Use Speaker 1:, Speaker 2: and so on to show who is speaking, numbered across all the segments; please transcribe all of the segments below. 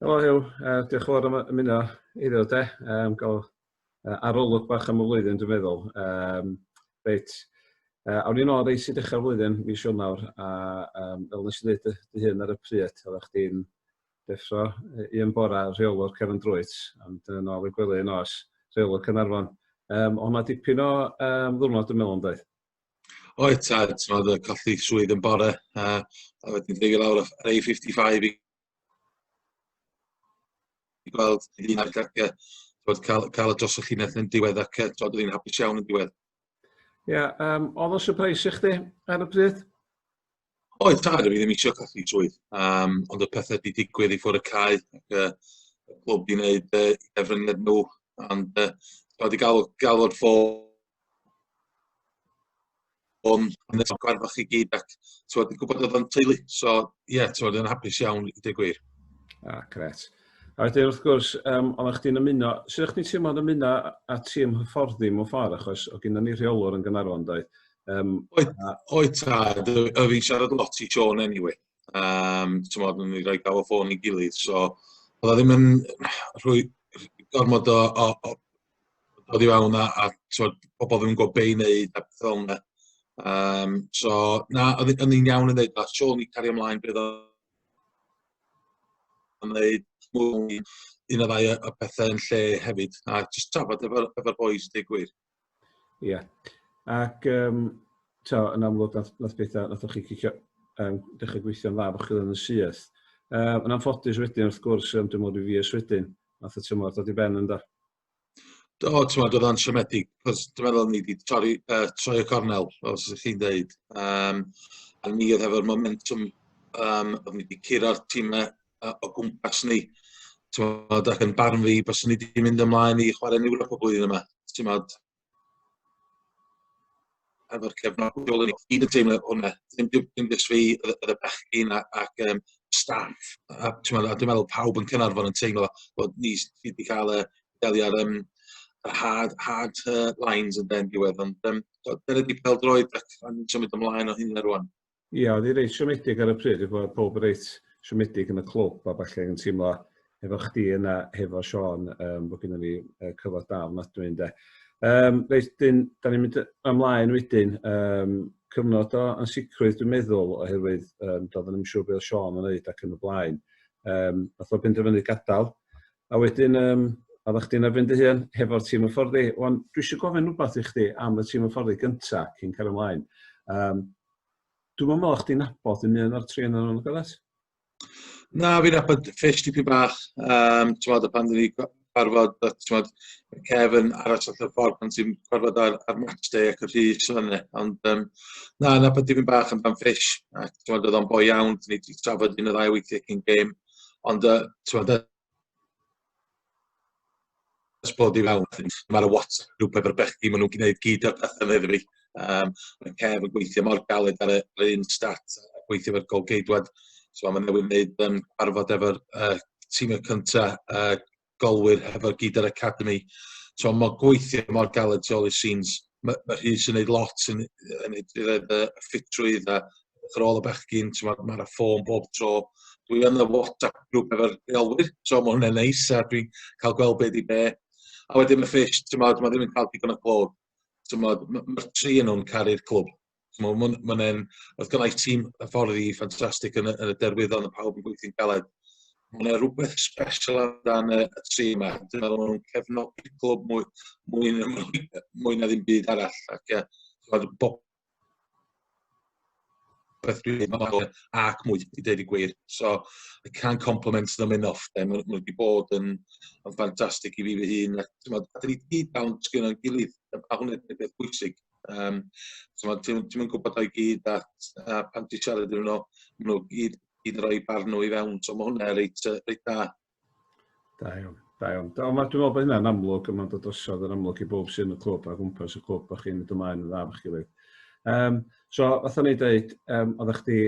Speaker 1: Helo Huw, uh, diolch yn fawr am ymuno iddo de. Um, gael uh, arolwg bach am y flwyddyn, dwi'n meddwl. Um, reit, uh, awn ni'n ôl reis i dechrau'r flwyddyn, mi siwn nawr, a um, fel nes i ddweud dy hyn ar y pryd, oedd eich di'n deffro un bora rheolwr Kevin Drwyt, am dyn yn ôl i gwely yn os, rheolwr Cynarfon. Um, ond mae dipyn o um, ddwrnod dwi'n meddwl yn dweud. Oedd, ta,
Speaker 2: oedd y colli swydd yn bore, a, a wedyn dweud lawr ar A55 i i gweld un ar gardiau, bod cael, cael y dros y llinell yn diwedd ac oedd dod yn hapus iawn yn diwedd. Ie,
Speaker 1: yeah, um, oedd o'n surprise i chdi ar y pryd?
Speaker 2: Oedd, tad, o'n i ddim eisiau colli swydd, um, ond y pethau wedi digwydd i ffwrdd y cae, ac uh, y clwb i wneud uh, efrynged nhw, ond uh, wedi gael, gael o'r ffôn o'n nes o'r gwarfach i gyd, ac tywed, yn gwybod oedd o'n teulu, so ie, yeah, tywed, yn hapus iawn i deg gwir. Ah, gret.
Speaker 1: A wedyn, wrth gwrs, um, ond chdi'n ymuno, sydd o'ch ti'n teimlo'n ymuno a tîm hyfforddi mewn ffordd, achos o gyda ni rheolwr yn Gynarfon, doedd, Um, o'i,
Speaker 2: o'i tad, y fi'n siarad lot i Sean anyway. Um, ti'n modd, ni roi gael o ffôn i gilydd, so oedd o ddim yn rhoi gormod o, o, o, o ddi fewn a, a tywed, pobl ddim yn gwybod be i wneud a beth o'n yna. Um, so, na, oedd yn un iawn yn dweud, a Sean i cario ymlaen beth o'n wneud, mwy un o ddau y pethau yn lle hefyd, a jyst trafod efo'r efo boys, deg gwir. Ia.
Speaker 1: Ac yym t'o' yn amlwg nath nath betha nathoch chi cicio yym dechra gweithio'n dda bo' chi yn y syth. Yy yn anffodus wedyn wrth gwrs yym dwi me'wl ryw fis wedyn nath y tymor dod i ben ynde? Do
Speaker 2: t'mod o'dd o'n siomedig 'c'os dwi meddwl o'n i 'di torri yy troi y cornel fel sa chi'n deud yym a ni o'dd hefo'r momentum yym o'n i 'di cura'r time uh, o gwmpas ni. Tymod, ac yn barn fi, bys ni wedi mynd ymlaen i chwarae ni wrth y blwyddyn yma. Tymod, efo'r cefnogol yn gyd yn teimlo hwnna. Dim, dim, dim dys fi, y bechgyn ac um, staff. A, tymod, a dwi'n meddwl pawb yn Cynarfon yn teimlo bod ni wedi cael y delio ar um, yr hard, hard uh, lines yn den diwedd. Ond um, dyna di peldroed ac ni'n symud ymlaen o hyn ar rwan. Ia, oedd hi reit
Speaker 1: siomedig ar y pryd, dwi'n gwybod pob reit siomedig yn y clwb a falle yn teimlo efo chdi yna, hefo Sean, um, bod gennym ni uh, cyfod da ofnadwy ynde. Um, reit, dyn, da ni'n mynd ymlaen wedyn, um, cyfnod o ansicrwydd dwi'n meddwl, oherwydd um, doedd yn siŵr beth Sean yn neud ac yn y blaen. Um, Nath o benderfynu gadael, A wedyn, um, oeddech chdi'n erbyn dy hun hefo'r tîm hyfforddi. Wan, dwi eisiau gofyn rhywbeth i chdi am y tîm hyfforddi gynta cyn cael ymlaen. Um, dwi'n meddwl o'ch chdi'n nabod yn un o'r tri yn nhw'n gydaeth? Na,
Speaker 2: fi'n nabod ffish tipyn bach. Um, ti'n meddwl, pan dwi'n ni gwarfod, ti'n meddwl, cef yn aros allan y ffordd pan ti'n gwarfod ar, ar match day ac y rhys fan yna. Ond um, na, nabod tipyn bach yn dan ffish. Ac ti'n meddwl, oedd o'n boi iawn, dwi'n ni wedi trafod un o ddau weithiau cyn game. Ond yy t'mod yy ers bod i fewn ma'r y WhatsApp grŵp efo'r bechgyn ma' nw'n gneud gyd o'r pethe yna iddo fi. Yym ma' Kev yn gweithio mor galed ar y ar un stat a gweithio efo'r gôl-geidwad so ma' newydd neud yym cyfarfod efo'r yy tîm y cynta yy golwyr hefo'r gyd yr academi so mae gweithio mor galed tu ôl i scenes mae ma Rhys yn neud lot yn yn roedd y ffitrwydd a yr ôl y bechgyn mae'r ma ffôn bob tro dwi yn y WhatsApp grŵp efo'r rheolwyr so mae hwnna'n neis a dwi'n cael gweld be di be a wedyn y ffish mae ddim yn cael digon o clod mae'r tri yn nhw'n caru'r clwb Mae'n ma, ma, ma oedd gynnau tîm y ffordd i ffantastig yn, yn y derwyddon, y pawb yn gweithio'n galed. Mae'n yna rhywbeth special amdan y, y tri yma. Dwi'n meddwl maen nhw'n cefnogi clwb mwy, mwy, mwy, mwy na ddim byd arall. Ac, uh, bob beth dwi'n dweud, mae'n dweud ac mwy i dweud y gwir. So, I can't compliment them enough. Mae nhw wedi bod yn, yn ffantastig i fi fy hun. A, a dyn ni gyd dawn sgyn o'n gilydd, a hwnna'n beth bwysig. Yym t'mod ti'm ti'm yn gwbod o i gyd a a pan ti siarad iddyn n'w ma' n'w gyd gyd yn roi barn n'w i fewn so ma' hwnna reit yy reit da. Da
Speaker 1: iawn. Da iawn. Da on' ma' dwi me'wl bo' hynna'n amlwg a ma'n dod drosodd yn amlwg i bowb sy yn y clwb a gwmpas y clwb bo' chi'n mynd ymlaen yn dda efo'ch gilydd. Yym so fatha o'n i'n deud yym odda chdi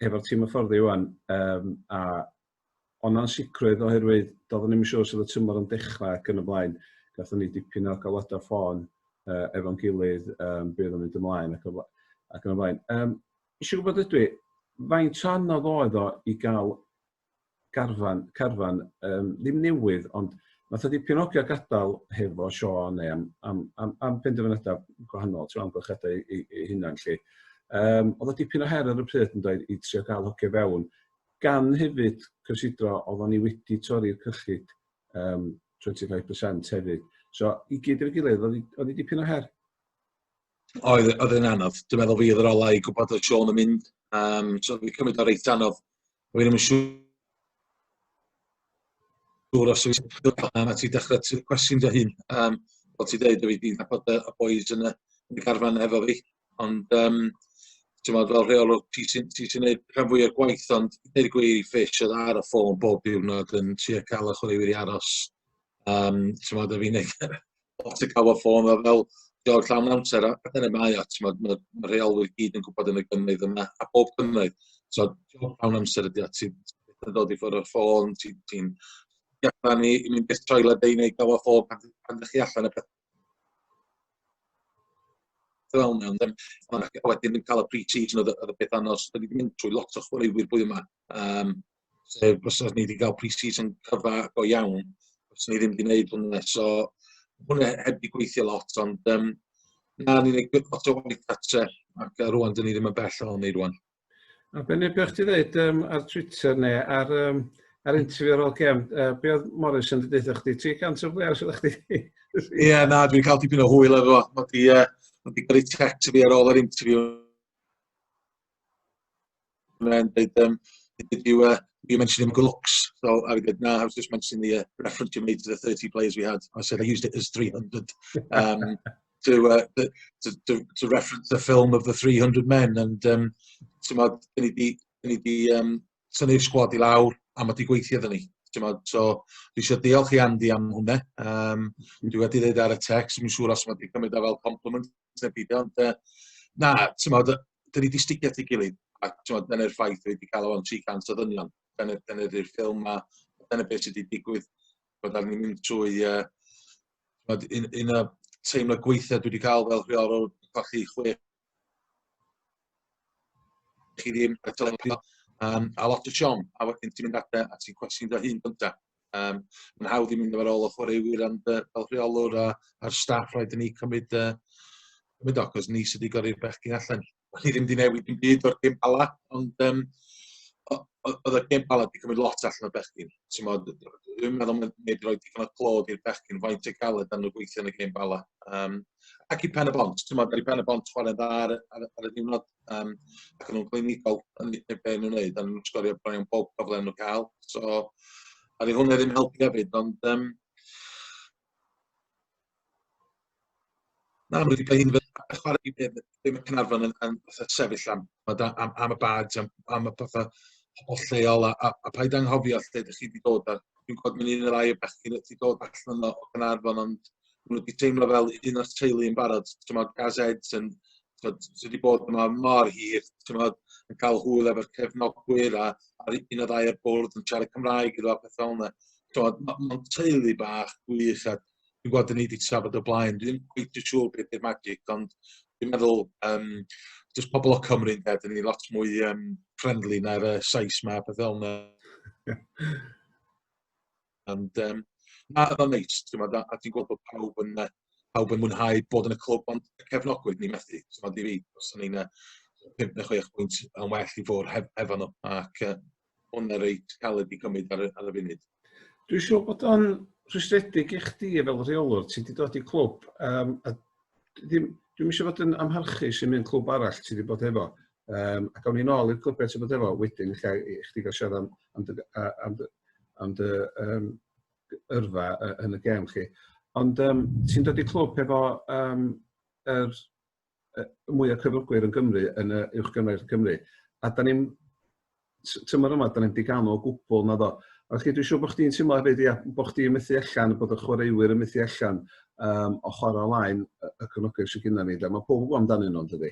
Speaker 1: efo'r tîm hyfforddi ŵan yym a o'n ansicrwydd oherwydd doeddwn ni'm yn siŵr sut y tymor yn dechrau ac yn y blaen. Gatho ni dipyn o galwadau ffôn uh, efo'n gilydd um, bydd yn mynd ymlaen ac, ac yn y blaen. Um, Eisiau gwybod ydw i, faint o anodd oedd o i gael garfan, carfan, um, ddim newydd, ond Nath o dipyn o ogio gadael hefo Sean neu am, am, am, am penderfynadau gwahanol, trwy amgylchadau i, i, i hunan lle. Um, oedd o dipyn o her ar y pryd yn dweud i trio gael hocio fewn gan hefyd cysidro, oeddwn ni wedi torri'r cyllid um, 25% hefyd. So, i gyd i'r gilydd, oedd hi dipyn o her?
Speaker 2: Oedd, oedd yn anodd. Dwi'n meddwl fi oedd yr olau i gwybod oedd Sean yn mynd. Um, so, fi cymryd o'r reit anodd. Fi ddim yn siŵr siŵr os yw'n siŵr am a ti dechrau ti'n cwestiwn dy hun. Um, fel ti dweud, fi di'n nabod y boys yn y, yn y garfan efo fi, ond um, ti'n meddwl fel rheol o'r ti sy'n ti sy gwneud rhan fwy o'r gwaith, ond dweud y gwir i ffis oedd ar y ffôn bob diwrnod yn trio cael y chwaraewyr i aros. Um, ti'n meddwl, fi'n neud lot yn cael y ffôn fel fel George llawn amser a dyna mae o ti'n meddwl mae'r ma rheolwyr gyd yn gwybod yn y gynnydd yma a bob gynnydd so job llawn amser ydy o ti'n yn dod i ffwrdd o'r ffôn ti'n ti allan i i mynd i'r toilet neu neu gael y ffôn pan pan ydych chi allan a peth fel mewn ddim ond wedyn yn cael y pre-season oedd y peth anodd so da ni wedi mynd trwy lot o chwaraewyr bwy yma Yym sef bysa ni wedi cael pre-season cyfa go iawn, os ni ddim wedi gwneud hwnna. So, hwnna heb wedi gweithio lot, ond um, na, ni'n gwneud lot o waith gatre, ac uh, rwan, dyn ni ddim yn bell o'n ei rwan. A be neu
Speaker 1: beth ti ddeud um, ar Twitter neu ar, um, ar interview ar ôl gem, uh, be oedd Morris yn dweud chdi? 300 o blews oedd chdi? Ie, na,
Speaker 2: dwi'n cael tipyn o hwyl efo. Mae di, uh, mae di gyrru text fi ar ôl yr interview Mae'n dweud, um, did you, uh, you mentioned him looks. So I did, no, I was just mentioning the uh, reference you made to the 30 players we had. I said I used it as 300 um, to, uh, to, to, to reference the film of the 300 men. And um, ti'n modd, dyn ni di, dyn ni di um, tynnu'r sgwad i lawr a mae di gweithio ddyn ni. So, dwi eisiau diolch i Andy am hwnna. Um, dwi wedi dweud ar y text, dwi'n siŵr os mae wedi cymryd e fel compliment. na byd ond yy na t'mod yy 'dyn ni 'di sticio at 'i gilydd a t'mod dyna'r ffaith fi 'di ca'l o fewn tri cant o ddynion dyna dyna 'di'r ffilm 'ma dyna be' sy 'di digwydd bod arnyn ni'n trwy yy t'mod un un o teimlo gweitha dwi 'di ca'l fel rheolwr colli chwe chi ddim a lot o siom a wedyn ti'n mynd adre a ti'n cwestiwn dy hun gynta. Yym ma'n hawdd i mynd efo rôl o chwaraewyr ond yy fel rheolwr a a'r staff raid i ni cymryd yy cymryd o 'c'os ni sy 'di gyrru'r bechgyn allan. O'n i ddim 'di newid dim byd o'r gem Bala ond yym o- o- o'dd y gem Bala 'di cymryd lot allan o'r bechgyn. T'mod yy dwi'm meddwl ma' neb 'di roi digon o clod i'r bechgyn faint o galed na'n n'w gweithio yn y gem Bala. Yym ac i Pen-y-bont t'mod ar i Pen-y-bont chware'n dda ar y ar y ar y diwrnod Yym ac o'n nw'n glinigol yn deu be' o'n nw'n neud o'n nw'n sgorio bron iawn bob problem o n'w ca'l so a 'dy hwnna ddim helpu efyd ond yym na ma' wedi ca'l un fatha chware i be' be' be' ma' Caernarfon yn yn fatha sefyll am t'mod a- am am y badge am am y petha hollol lleol a a a paid anghofio lle 'dych chi 'di dod a dwi'n gwbod ma' un ne' ddau o bechgyn wedi dod allan o o Gaernarfon ond ma' n'w 'di teimlo fel un o'r teulu yn barod t'mod Gaz Ed's yn t'od sy 'di bod yma mor hir t'mod yn ca'l hwyl efo'r cefnogwyr a a'r u- un o ddau o'r bwrdd yn siarad Cymraeg iddo a petha fel 'na. T'mod ma' ma'n teulu bach gwych a dwi'n gweld 'dyn ni 'di trafod o blaen dwi'm cweit yn siŵr be' 'di'r magic ond dwi'n meddwl yym jyst pobol o Cymru ynde 'dyn ni lot mwy yym friendly na'r yy Sais 'ma a petha fel 'na. Ond um, na, oedd o'n neis, ti'n a ti'n gweld bod pawb yn, uh, pawb yn mwynhau bod yn y clwb, ond y cefnogwyr ni methu, ti'n meddwl, i fi, os o'n i'n 5 neu 6 pwynt yn well i fod hef, hefo nhw, ac uh, hwnna reit caled i gymryd ar, ar y funud. Dwi'n siŵr bod
Speaker 1: o'n rhwystredig i chdi fel rheolwr, ti wedi dod i clwb, um, a ddim, dwi'm eisiau fod yn amharchu sy'n mynd clwb arall ti wedi bod efo. Um, ac awn ni'n ôl i'r clwbiau ti wedi bod efo wedyn, lle i chdi gael siarad am, am, dy, am, dy, am dy um, yrfa yn y gem chi. Ond um, ti'n dod i clwb efo um, er, er, mwy o cyflogwyr yn Gymru, yn y uwch gymraeg Cymru, a da ni'n t- tymor yma, da ni'n diganol o gwbl, na do. Ac dwi'n siŵr bod chdi'n teimlo hefyd, ia, bod chdi'n methu allan, bod y chwaraewyr yn methu allan um, o chwarae ymlaen y, y cyfnogau sydd gyda ni. Lle. Mae pob yn gwybod amdanyn nhw, dydy?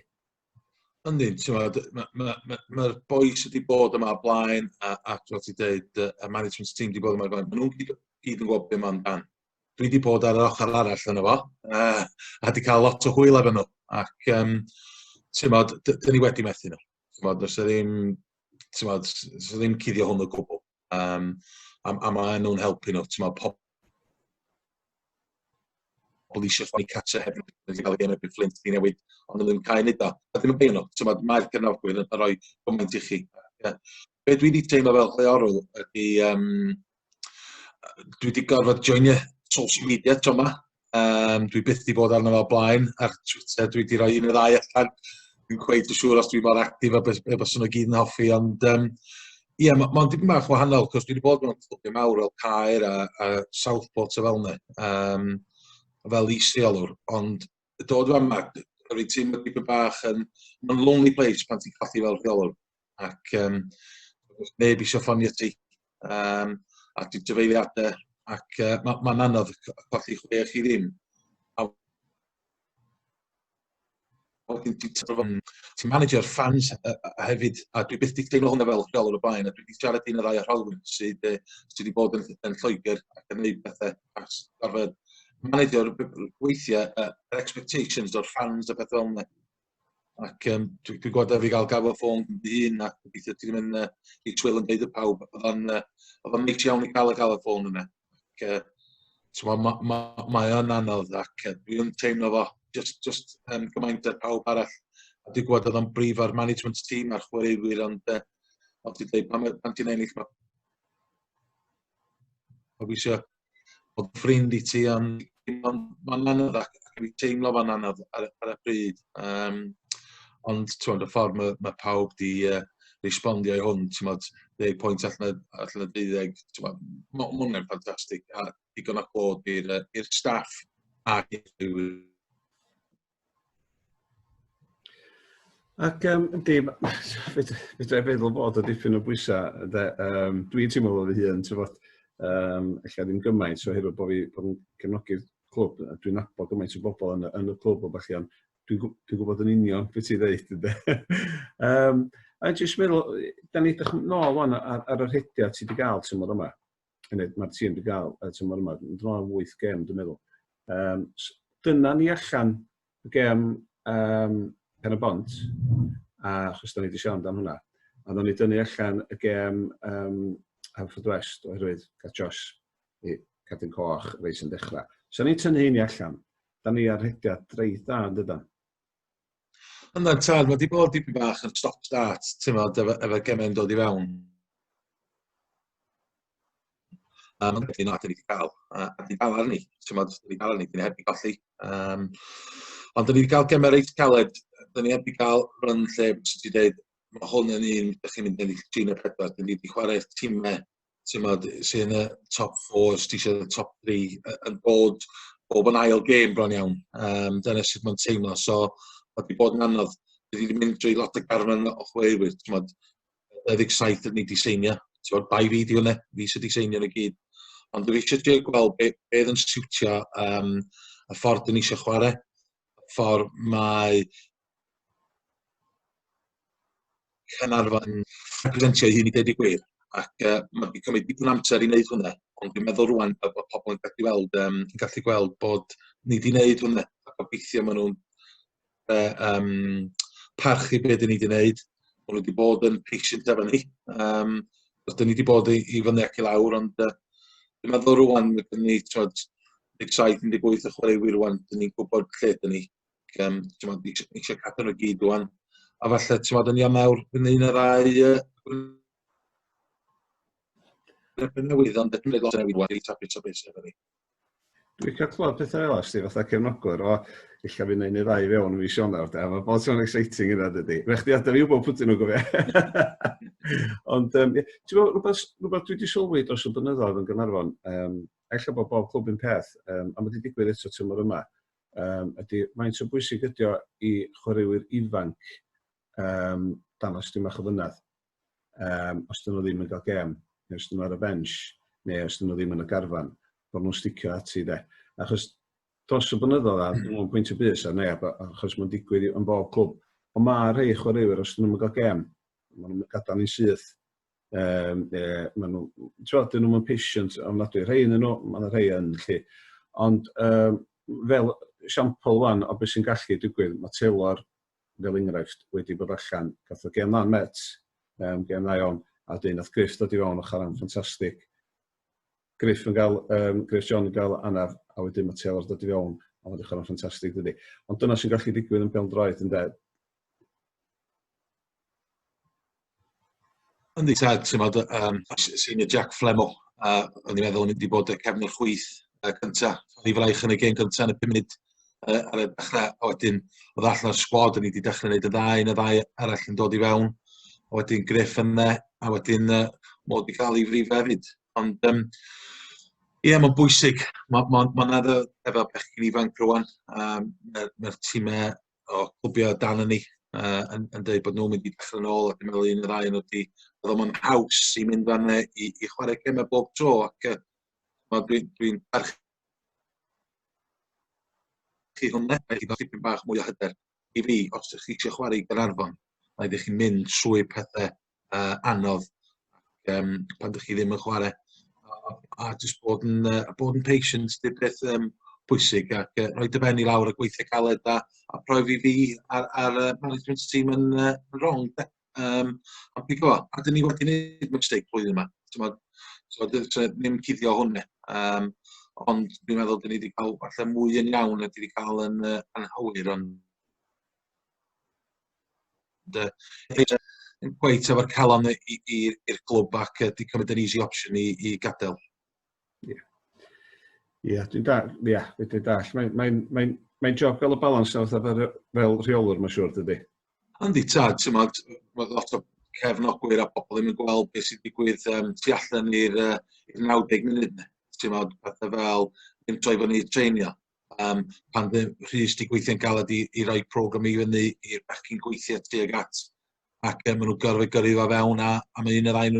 Speaker 1: Ynddi,
Speaker 2: mae'r ma, ma, ma boys wedi bod yma blaen, a, a fel ti dweud, y management team wedi bod yma blaen, maen nhw'n gyd, gyd yn gwybod beth mae'n dan. Dwi wedi bod ar yr ochr arall yna fo, a, a wedi cael lot o hwyl efo nhw. Ac, um, ti'n modd, dyn ni wedi methu nhw. T'mod do's 'a ddim t'mod s- s- s- ddim cuddio hwn o gwbwl yym a m- a ma' nw'n helpu n'w t'mod pob- pobol isio chwalu cartre heb Fflint dwi newydd on' o'dd yn cau neud o. A dim yn poeni n'w t'mod mae'r cefnogwyr yn roi gymaint i chi yy be' dwi 'di teimlo fel rheolwr ydi yym yy dwi 'di gorfod joinio social media t'o' 'ma yym dwi byth 'di bod arno fo o blaen ar Twitter dwi 'di roi un neu ddau allan dwi'm cweit yn siŵr os dwi mor actif a bys- be' byswn nw gyd yn hoffi ond yym ie ma' ma'n dipyn bach wahanol 'c'os dwi 'di bod mewn clwbiau mawr fel Caer a a Southport a fel 'ne yym fel is-reolwr ond dod fan yma, a fi'n teimlo dipyn bach yn... Mae'n lonely place pan ti'n colli fel rheolwr. Ac um, neb eisiau ffonio ti. Um, a ti'n dyfeiliadau. Ac uh, mae'n ma, ma anodd colli chwe chi ddim. A wedyn ti'n tyfo ti'n manager fans a, a, a hefyd, a dwi byth wedi teimlo hwnna fel rheolwr o blaen, a dwi wedi siarad un o ddau o rheolwyr sydd, sydd wedi bod yn, yn Lloegr ac yn gwneud pethau achos gorfod manegio weithiau uh, yr expectations o'r fans a beth fel yna. Ac um, dwi'n dwi gwybod efo'i gael gafel ffôn dy hun a gobeithio ti'n mynd uh, i twyl yn deud y pawb. Oedd o'n uh, oedd o'n iawn i gael y gael y ffôn yna. Ac, uh, mae ma, ma, ma o'n anodd ac uh, dwi'n teimlo fo just, just um, gymaint ar pawb arall. A dwi'n gwybod oedd o'n brif o'r management team a'r chwaraewyr ond uh, ond ti'n dweud pan, pan ti'n ennill mae Gobeithio bod ffrind i ti am ond ma'n anodd ac ac fi'n teimlo fan anodd ar y ar y pryd yym ond t'mod y ffordd ma' ma' pawb 'di yy respondio i hwn t'mod deg pwynt allan o allan o deuddeg t'mo' ma' ma' wnna'n ffantastig a digon o clod i'r yy i'r staff a
Speaker 1: Ac um, yndi, fydra i feddwl bod o dipyn o bwysau. Um, dwi'n teimlo fod fy hun, ti'n fod, um, eich ddim gymaint, so hefyd bod fi bod yn gefnogi'r clwb, a dwi'n nabod gymaint o bobl yn, yn y clwb o bach iawn. Dwi'n dwi gwybod yn union beth i ddeud, ynddo. um, a jyst meddwl, da ni ddechrau nôl o'n ar, ar yr hediad ti wedi gael tymor yma. yn ed, mae'r tîm wedi cael y tymor yma, yn dro am 8 gem, dwi'n meddwl. Um, dyna ni allan y gem um, pen y bont, a chos da ni wedi siarad am hwnna, a dda ni dynnu allan y gem um, Hanford West oherwydd gael Josh i cadw'n coch reis yn dechrau. So ni'n tynnu hynny allan, da ni ar hediad dreith da yn dydan.
Speaker 2: Ond na, tad, mae wedi bod dipyn bach yn stop-start, ti'n meddwl, efo, efo gemau'n dod i fewn. Um, ond wedyn, na, dyn ni wedi cael, a, a dyn cael arni, ti'n meddwl, dyn ni cael arni, dyn ni heb i golli. Um, ond dyn ni wedi cael gemau reit caled, dyn ni heb i cael run lle, bys ti dweud, mae hwn yn un, ydych chi'n mynd yn eich trin y pedwar, dyn ni wedi chwarae'r tîmau t'mod sy yn y top four os ti isio y top three yy yn bod bob yn ail gêm bron iawn yym dyna sut ma'n teimlo so ma' 'di bod yn anodd. Dwi 'di mynd drwy lot o garfan o chweurywyr t'mod dau ddeg saith o'n i 'di seinio t'mod bai fi 'di hwnna fi sy 'di seinio n'w gyd ond dwi isie trio gweld be' be' o'dd yn siwtio yym y ffordd 'dyn ni isio chware ffor mae Caernarfon representio ei hun i ddeud y gwir ac yy ma' 'di cymryd dipyn o amser i wneud hwnna ond dwi'n meddwl rŵan fel bod pobl yn gallu weld yym yn gallu gweld bod ni 'di wneud hwnna a gobeithio ma' nhw'n yy yym parchu be' 'dyn ni 'di wneud ma' nhw 'di bod yn patient efo ni yym achos 'dyn ni 'di bod i i fyny ac i lawr ond yy dwi'n meddwl rŵan ma' gyn ni t'wod 17, 18 o chwaraewyr rŵan 'dyn ni'n gwbod lle 'dyn ni Yym, t'mod, isio isio cadw nhw i gyd rŵan. A falle, t'mod, yn Ionawr, bydd 'na un neu ddau yy yn newydd, ond eto bydd lot o newid rŵan, eitha bit o beth sy efo ni. Dwi'n cael
Speaker 1: clywed pethau fel ysdi, fatha cefnogwr, o, eich fydd yna un neu ddau fewn yn fy Sionawr, da, mae bod sy'n exciting yna, dydy. Fe chdi adaf i wybod pwtyn nhw'n gofio. Ond, um, ti'n gwybod, rhywbeth, rhywbeth dwi wedi sylwi dros y blynyddoedd yn Gynarfon, um, eich bod bob clwb yn peth, um, a mae wedi digwydd eto tymor yma, yym ydy faint o bwysig ydy o i chwaraewyr ifanc yym dangos dipyn bach o fynedd yym os 'dyn nhw ddim yn cael gêm neu os 'dyn nhw ar y bench neu os 'dyn nhw ddim yn y garfan bod nhw'n sticio ati de achos dros y blynyddoedd a dwi'n meddwl pwynt y bus ar neb achos mae'n digwydd yn bob clwb ond mae rhai chwaraewyr os 'dyn nhw'm yn cael gêm maen nhw'n gadael ni'n syth Um, e, maen nhw, ti'n dyn nhw'n patient ofnadwy. Rhai yn nhw, mae'n rhai yn lle. Ond um, fel siampl wan o beth sy'n gallu digwydd, mae Taylor, fel enghraifft, wedi bod allan, gath o gen dda'n met, um, gen dda iawn, a dyn nath Griff dod i fewn o charan ffantastig. Griff yn gael, um, Griff John yn gael anaf, a wedyn mae Taylor dod i fewn, a mae'n dechrau'n ffantastig dydy. Ond dyna sy'n gallu digwydd yn bel droed, yn dweud,
Speaker 2: Yndi tad, t'mod yy yym os yy senior Jack Flemmel a o'n i'n meddwl yn mynd i bod y cefn y chwith yy cynta. O'n i fraich yn y gêm gynta yn y pum munud yy ar y dechre a wedyn o'dd allan o'r sgwad o'n i 'di dechre neud y dda un a ddau arall yn dod i fewn a wedyn Gruff yne a wedyn yy mo 'di ca'l 'i frifa efyd ond yym ie ma'n bwysig ma' ma' ma' 'na efo bechgyn ifanc rŵan yym yy ma'r time o clwbia o dan ynni yy yn yn deud bod nw'n mynd i dechre nôl ac yn meddwl un ne' ddau o n'w 'di o'dd o'm yn haws i mynd â n'w i i chware geme bob tro ac yy wel dwi'n dwi'n parch- chi hwn 'de mae 'di ga'l tipyn bach mwy o hyder i fi os 'dych chi isio chware i Gaernarfon ma' raid i chi mynd trwy pethe uh, anodd um, pan dych chi ddim yn chwarae a, a jyst bod yn, uh, bod yn patient dy beth um, pwysig ac uh, rhoi dy ben i lawr y gweithio caled a, a profi fi ar, ar uh, management team yn uh, wrong. Um, a pigo, a dyn ni wedi gwneud mistake blwyddyn yma. So, so, so, ddim cuddio hwnne. Um, ond dwi'n meddwl dyn ni wedi cael falle mwy yn iawn a dyn ni wedi cael yn uh, anghywir, ond Ynde? Peidio cweit efo'r calon i i i i'r clwb ac yy 'di cymryd yr easy option i i gadel. Ie.
Speaker 1: Ie dwi'n dall ie fedrai dall. Mae'n mae'n mae'n mae'n job fel y balans nawr fatha fel fel rheolwr mae'n siŵr dydy? Yndi tad
Speaker 2: t'mod ma' lot o cefnogwyr a pobl ddim yn gweld beth sy'n digwydd yym tu allan i'r yy i'r 90 munud 'ne. T'mod pethe fel ddim troi fyny i treinio. um, pan ddim rhys di gweithio'n galed i, i roi program i fyny i'r bachyn gweithio tuag at ac um, maen nhw'n gorfod gyrru fo fewn a, a mae un yr ein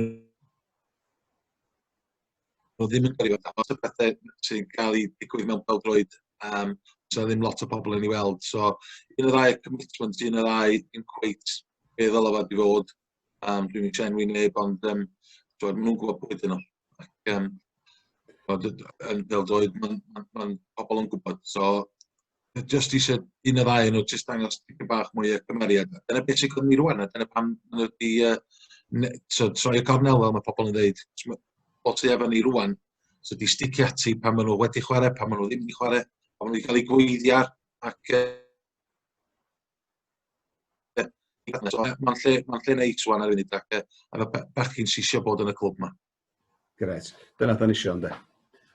Speaker 2: nhw ddim yn gyrru fo fewn. Os y pethau sy'n cael ei digwydd mewn pawdroed, um, so ddim lot o bobl yn ei weld. So un o'r rai commitment, un o'r rai yn cweit be ddylai fod i fod, Um, dwi'n mynd enwi neb, ond um, dwi, maen nhw'n gwybod pwy dyn nhw. Ac, um, yn fel doedd, mae'n ma, ma pobl yn gwybod. So, just eisiau un o ddau nhw, just dangos tipyn bach mwy o cymeriad. Dyna beth sy'n gwneud ni rwan, a dyna pam maen nhw wedi uh, so, troi y cornel fel mae pobl yn dweud. O ti efo ni rwan, so di sticio ati pan maen nhw wedi chwarae, pan maen nhw ddim wedi chwarae, pan maen nhw wedi cael eu gweiddiar, ac uh, Mae'n lle, mae'n lle neis wan ar funud ac efo bechgyn sy'n eisiau bod yn y clwb yma. Gret.
Speaker 1: Dyna da ni eisiau, ynddo?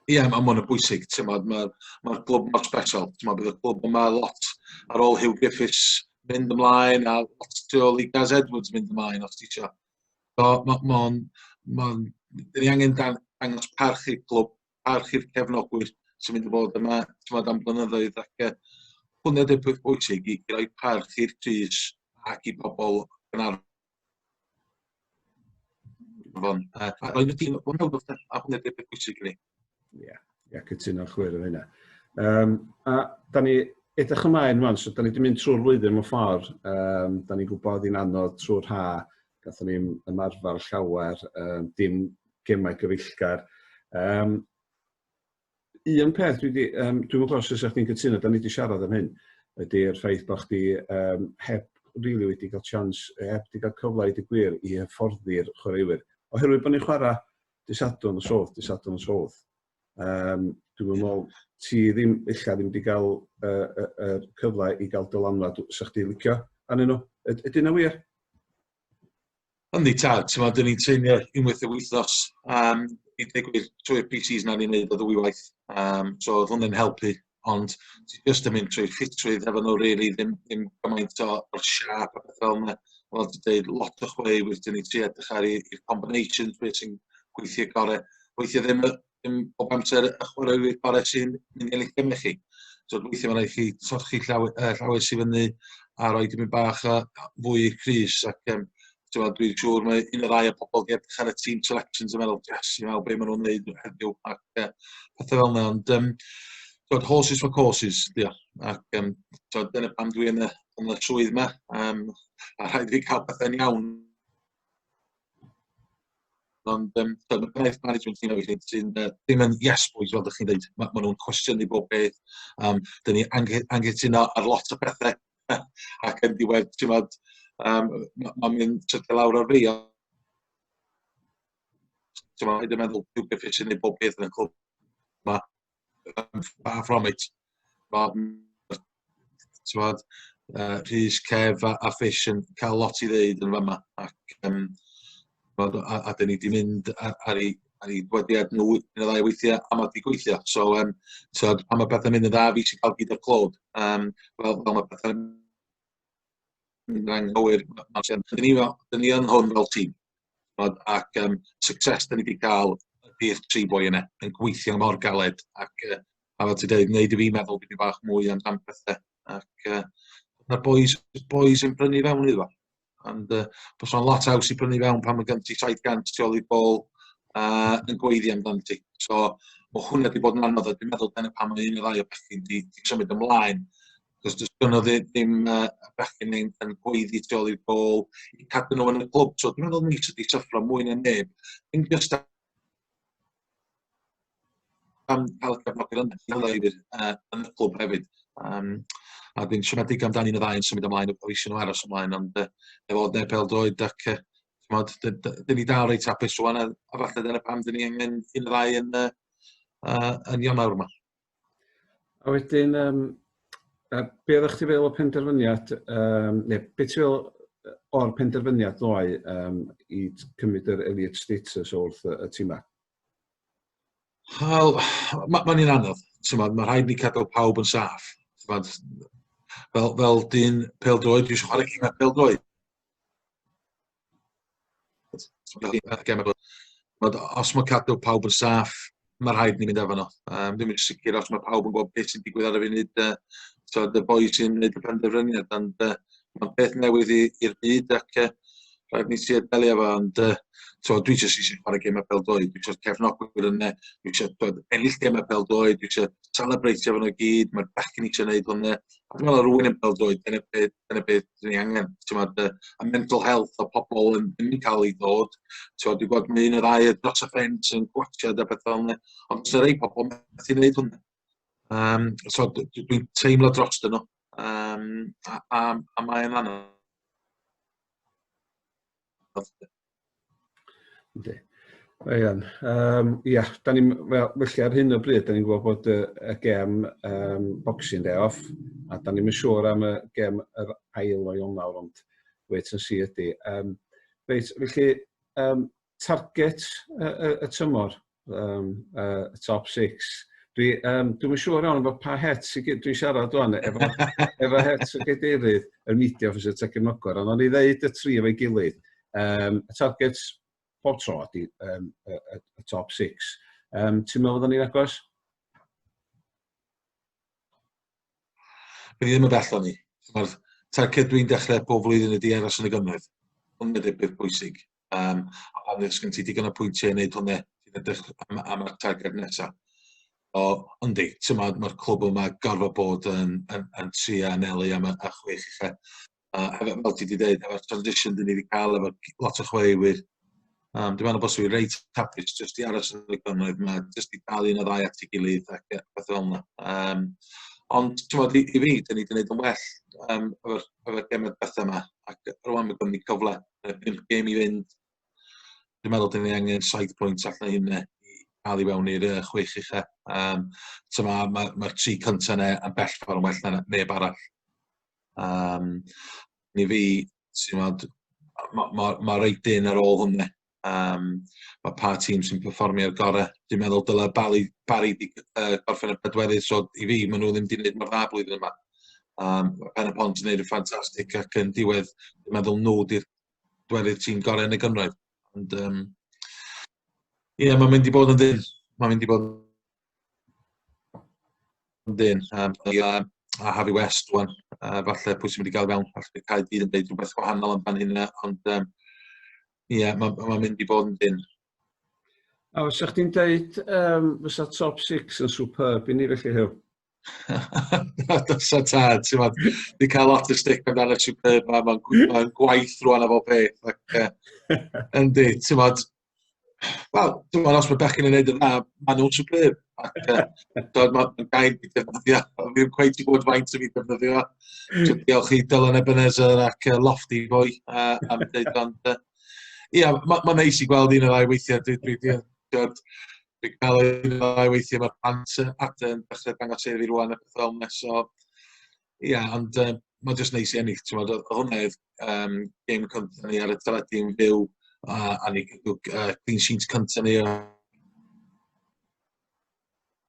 Speaker 1: Ie, yeah, mae'n
Speaker 2: y bwysig. Mae'r ma, ma clwb mor special. Mae bydd y clwb yma lot ar ôl Hugh Griffiths mynd ymlaen a lot tu ôl i Gaz Edwards mynd ymlaen, os ti eisiau. So, mae'n... Ma, ma, ma, ni angen dangos parch i'r clwb parch i'r cefnogwyr sy'n mynd i fod yma t'mod am blynyddoedd ac yy hwnna 'di'r peth bwysig i i roi parch i'r crys ac i bobol Gaernarfon a a roi nw dîm hwnna 'di'r peth bwysig i ni. Ia ia
Speaker 1: cytuno'n llwyr efo hynna. Yym a 'dan ni edrych ymlaen rŵan so 'dan ni 'di mynd trwy'r flwyddyn mewn ffor yym 'dan ni'n gwbod hi'n anodd trw'r ha Gathon ni'm ymarfar llawer yym dim gemau gyfeillgar. Yym un peth dwi 'di yym dwi'm yn gwybod os fysa chdi'n cytuno 'dan ni 'di siarad am hyn ydy'r ffaith bod chdi yym heb rili wedi cael chance yy heb 'di cael cyfle i ddeud y gwir i hyfforddi'r chwaraewyr oherwydd bod ni'n chwarae dydd Sadwrn nos Fowrth dydd Sadwrn nos Fowrth. Um, dwi'n meddwl, ti ddim, illa ddim wedi cael y uh, uh, uh, cyfle i gael dylanwad sa chdi licio anyn nhw. Ydyn nhw wir?
Speaker 2: Yndi ta, ti'n meddwl, dyn ni'n teimio unwaith y wythnos. Um, I ddeg wir, trwy'r PCs na ni'n neud o ddwy waith. Um, so, oedd hwnna'n helpu. ond ti jyst yn mynd trwy'r ffitrwydd efo nhw rili ddim ddim gymaint o o'r siâp a beth fel 'na. Fel ti'n deud lot o chwe i wedyn ni'n trio edrych ar 'u eu combinations be' sy'n gweithio gore. Weithie ddim y ddim bob amser y chwaraewyr gore sy'n mynd i ennill geme chi. So weithie ma' raid chi trochi llaw yy llawes i fyny a roi dipyn bach o fwy i'r crys ac yym so dwi'n siŵr mae un o'r ddau o pobol wedi edrych ar y team selections yn meddwl yes you know be ma' nhw'n neud heddiw ac uh, pethau fel yna ond um, tywed, horses for courses dio ac um, tywed, dyna pam dwi yn y, yn y swydd yma um, a rhaid i cael pethau'n iawn ond um, tywed, mae gwaith management ni'n oed sy'n uh, ddim yn yes boys fel ydych chi'n dweud mae ma nhw'n cwestiynu bob beth um, dyn ni angytuno ar lot o pethau ac yn diwedd t'mod yym ma' ma'n mynd tydio lawr ar fei a t'mo' hyd yn meddwl dyw byth isie neud pob peth yn y cwp ma' yym far from it ma' t'mod yy Rhys Kev a a Fish yn ca'l lot i ddeud yn fama ac yym Ch'mod a a 'dyn ni 'di mynd a- ar 'u ar 'u gwagiad nhw un ne' ddau weithia' a ma' 'di gweithio so yym t'od pan ma' petha'n mynd yn dda fi sy ca'l gig y clo yym fel fel ma' petha'n mynd yn anghywir ma' ma' tua 'dyn ni fel 'dyn ni yn hwn fel tîm ch'mod ac yym success 'dyn ni 'di ca'l ydi'r tri boi yne yn gweithio mor galed ac yy a fel ti deud neud i fi meddwl dipyn bach mwy amdan pethe ac yy ma'r bois bois yn brynu fewn iddo fo. And uh, bys o'n lot haws i brynu fewn pan mae gen ti 700 tu ôl i'r bol uh, yn gweiddi amdano ti. So, mae hwnna wedi bod yn anodd, a dwi'n meddwl dyna pan mae un o'r rai o bechgyn di, di symud ymlaen. Cos dwi'n gynnu ddim uh, bechgyn yn, yn gweiddi tu ôl i'r bol, i cadw nhw yn y clwb. So, dwi'n meddwl mis ydi syffro mwy na neb. Ddim just am ca'l cyfnod yn y clwb hefyd yym a dwi'n siomedig amdani yn y ddau yn symud ymlaen o i Sir Gâr a symud ymlaen ond yy efo fod neb pêl-droed ac yy t'mod dy- dy- 'dyn ni dal reit hapus rŵan a a falle dyna pam 'dyn ni angen un neu ddau yn y yy yn Ionawr 'ma. A
Speaker 1: wedyn, um, uh, be oeddech chi feddwl o penderfyniad, um, neu beth ti'n feddwl o'r penderfyniad ddoe um, i cymryd yr Elliot status wrth y, y tîm Wel,
Speaker 2: mae'n ma un anodd. Mae'n ma rhaid ni cadw pawb yn saff. Fel, fel dyn pel-droed, dwi'n chwarae gymau pel-droed. Ond os mae cadw pawb yn saff, mae rhaid ni fynd efo nhw. Um, dwi'n mynd sicr os mae pawb yn gwybod beth sy'n digwydd ar y funud, uh, so, y boi sy'n gwneud y penderfyniad, ond uh, mae'n peth newydd i'r byd ac uh, rhaid ni sy'n delio efo, ond uh, so, dwi eisiau sisi chwarae gemau pel doi, dwi eisiau cefnogwyr yn ne, dwi eisiau ennill gemau pel doi, dwi eisiau celebreitio fan o gyd, mae'r bechgyn eisiau gwneud hwnna, a dwi'n meddwl rwy'n yn pel doi, dyna beth dyna beth dwi angen t'mod yy y mental health o pobol yn ddim yn ca'l 'i ddod t'mod dwi gweld ma' un neu ddau dros y ffens yn gwatsiad a petha fel 'ne ond sa rei pobol methu neud hwnna. Yym so d- d- dwi'n teimlo drostyn nhw yym a a a mae'n anodd.
Speaker 1: Ynddi. Da iawn. Um, ia, da ni'n, well, felly ar hyn o bryd, da ni'n gwybod bod y, y gem um, boxing day off, a da ni'n siŵr am y gem yr ail o Ionawr, ond wait and see ydy. Um, reit, felly, um, target y, y, y tymor, um, uh, top six. Dwi, um, dwi'n yn siŵr iawn bod pa het sy'n gyd, dwi'n siarad o'n efo, efo het sy'n gydeirydd y media officer Tegin Mogor, ond o'n i ddeud y tri efo'i gilydd, um, y targets pob tro ydy um, y, y, y top six. Um, ti'n meddwl bod o'n i'n agos?
Speaker 2: Bydd ddim yn bell o'n i. Mae'r targed dwi'n dechrau pob flwyddyn ydy aros yn y gynnydd. Ond mae'n debyg bwysig. Um, a pan ddys gen ti digon o pwyntiau i wneud hwnna, ti'n edrych am, am y targed nesaf. O, ond di, ti'n ma, mae'r clwb yma gorfod bod yn, yn, yn tri a anelu am y a chwech i chi. A hefyd, fel ti wedi dweud, efo'r transition dyn ni wedi cael efo lot o chwaraewyr, um, dwi'n meddwl bod sy'n reit hapus jyst i aros yn y gynnoedd yma, jyst i dal un o ddau at ei gilydd ac beth fel yna. Um, Ond ti'n modd, i, i fi, dyn ni wedi gwneud yn well um, efo'r efo'r gemau beth yma, ac rwan mae gwneud cyfle y pump gêm i fynd. Dwi'n meddwl dyn ni angen saith pwynt allan hynna i cael i fewn i'r uh, chwech ucha. Um, so mae'r ma, ma, ma tri cyntaf yna yn bell ffordd yn well na neb arall. Um, ni fi, ti'n meddwl, mae ma, ma, ma reit dyn ar ôl hwnna. Um, mae pa tîm sy'n performio ar gorau. Dwi'n meddwl dylai Barry, Barry di, uh, gorffen y bedweddydd, so i fi, maen nhw ddim wedi gwneud mor dda blwyddyn yma. um, mae Pen y Pont yn gwneud yn ffantastig ac yn diwedd, dwi'n meddwl nhw di'r dwerydd tîm gorau yn y gynraedd. Ond, um, ie, yeah, mae'n mynd i bod yn ddyn. Mae'n mynd i bod yn ddyn. Um, a, a Harry West, wan, uh, falle pwy sy'n mynd i gael fewn, falle bydd cael dyn yn dweud rhywbeth gwahanol amdan hynna, ond um, ie, yeah, mae'n ma mynd i bod yn ddyn.
Speaker 1: A fysa chdi'n deud um, fysa top 6 yn superb i ni felly Huw? Dos
Speaker 2: o tad, ti'n fawr. Di cael lot o stick amdano superb ma, mae'n gwaith rwan o fo beth. Yndi, ti'n fawr. Wel, ti'n fawr, os mae bechyn yn neud yn dda, mae nhw'n superb. Dwi'n mae'n gael i defnyddio. Fi'n gweud i bod faint o fi defnyddio. Diolch i Dylan Ebenezer ac Lofty Boy am dweud ond Ia, mae'n ma neis i gweld un o'r ddau weithiau. Dwi, dwi, dwi, dwi, dwi gael un o'r ddau weithiau mae'r plant at yn dechrau dangos ei fi rwan y peth fel yna. So, ia, ond um, mae'n just neis i ennill. Ti'n meddwl, hwnna oedd um, game cyntaf ni ar y teledu yn fyw a, a ni gyda uh, clean sheets cyntaf ni. A,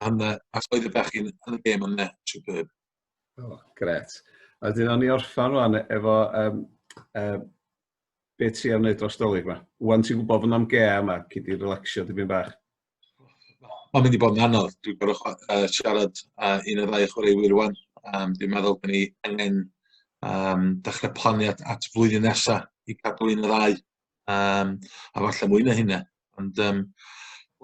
Speaker 2: hwnna, ac oedd y bechyn yn y game yna, superb. O, oh, gret.
Speaker 1: A dyn o'n i orffan rwan efo um, um, Be ti am wneud dros dolig ma? Wan ti'n gwybod fod na'm gea yma, ci di relaxio dipyn bach.
Speaker 2: Mae'n mynd i bod yn anodd. Dwi'n gorau uh, siarad uh, un o ddau chwaraewyr rwan. Um, dwi'n meddwl bod ni angen um, dechrau plannu at, at flwyddyn nesaf i cadw un o ddau. Um, a falle mwy na hynna. Ond um,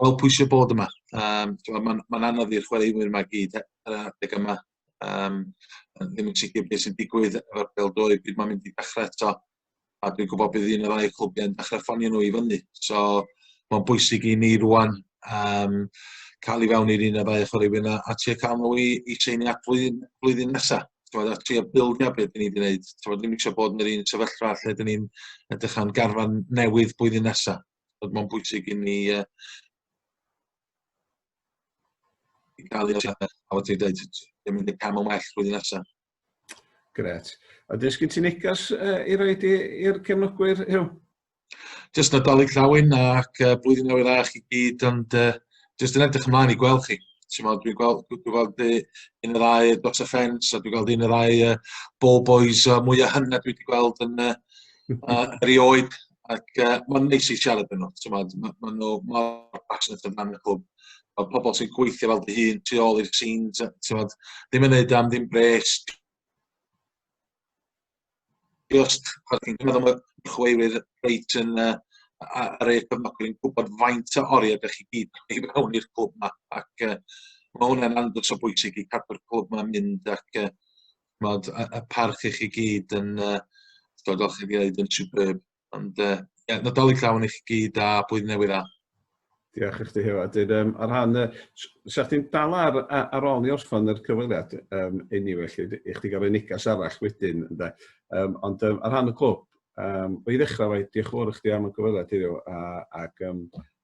Speaker 2: wel pwysio bod yma. Um, Mae'n ma anodd i'r chwaraewyr yma gyd ar adeg yma. yym yn ddim yn sicir be' sy'n digwydd efo'r pêl-droed pryd ma'n mynd i dechre eto a dwi'n gwybod bydd un o'r ail clwbiau'n dechre ffonio nhw i fyny so mae'n bwysig i ni rŵan um, cael ei fewn i'r un o ddau o chwaraewyr yna a trio cael nhw i, i seini at flwyddyn, flwyddyn nesaf. Tywed, a trio bildio beth dyn ni wedi gwneud. Tywed, ddim eisiau bod yn yr un sefyllfa lle dyn ni'n edrych am garfan newydd blwyddyn nesaf. Mae'n bwysig i ni uh, i gael ei osiadau, a fel ti'n dweud, yn mynd y cam yn well flwyddyn nesaf. Gret.
Speaker 1: A dys gyd ti'n negas uh, i roed i'r cefnogwyr, Hugh? Just
Speaker 2: Nadolig Llawyn ac uh, blwyddyn newydd dda chi gyd, ond uh, just yn edrych ymlaen i gweld chi. Dwi'n gweld, dwi gweld un o ddau dot offence, a dwi'n gweld un o ddau uh, ball boys uh, mwyaf hynna dwi wedi gweld yn uh, uh, erioed Ac uh, mae'n neis i siarad yn nhw, ti'n maen nhw mor passionate amdan y clwb. Mae pobl sy'n gweithio fel dy hun, tu ôl i'r scenes, ti'n maen, ddim yn neud am ddim bres. Just, chwarae ti'n cymryd am y chweiwyr reit yn uh, ar ei cyfnogwyr yn gwybod faint o oriau ydych chi gyd i fewn i'r clwb yma. Ac uh, mae hwnna'n andros o bwysig i cadw'r clwb yma'n mynd ac uh, ch'mod y y parch i chi gyd yn yy t'mod fel chi 'di ddeud yn superb ond yy ie Nadolig llawen i chi gyd a blwyddyn newydd dda. Diolch i
Speaker 1: chdi Huw a 'dyn yym ar rhan yy s- 'sa chdi'n dal ar a- ar ôl ni orffan yr cyfweliad yym eniwe 'lly d- i chdi ga'l roi negas arall wedyn ynde yym ond yym ar rhan y clwb yym i ddechra efo 'i dioch y' fowr i chdi am y cyfweliad heddiw a ag yym